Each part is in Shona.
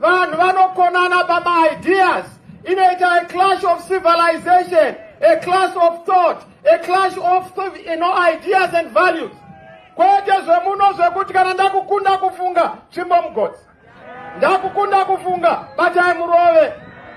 Vanhu vanokonana pamaideas inoita a clash of civilization, a clash of thought, a clash of you know, ideas and values. Kwete zvemuno zvekuti kana ndakukunda kufunga tsvimbo mugodzi. Ndakukunda kufunga batai murove.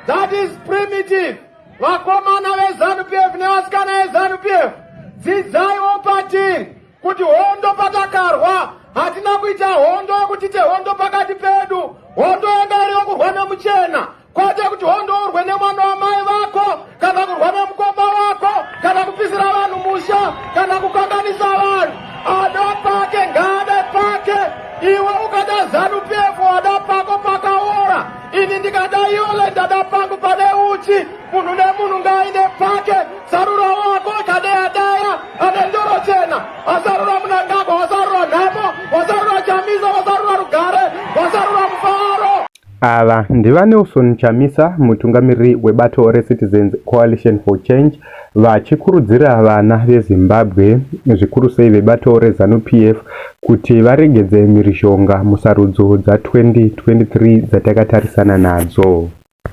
That is primitive. Vakomana veZanu PF nevasikana veZanu PF. Dzidzaiwo patiri. kuti hondo patakarwa hatina kuita hondo yokuti tehondo pakati pedu hondo yanga iri yokurwa nemuchena kwete kuti hondo urwe nemwana wamai vako kana kurwa nemukoma wako kana kupisira vanhu musha kana kukanganisa vanhu ada pake ngaade pake iwe ukada zanu pf wada pako pakaora ini ndikada yole ndada pangu pane uchi munhu nemunhu ngaaine pake sarura wako kadeya deya ane ndoro chena asarura munangagwa wasarura nhamo wasarura chamisa wasarura rugare wasarura mufaro ava ndivanelson chamisa mutungamiriri webato recitizens coalition for change vachikurudzira vana vezimbabwe zvikuru sei vebato rezanup f kuti varegedze mhirizhonga musarudzo dza 2023 dzatakatarisana nadzo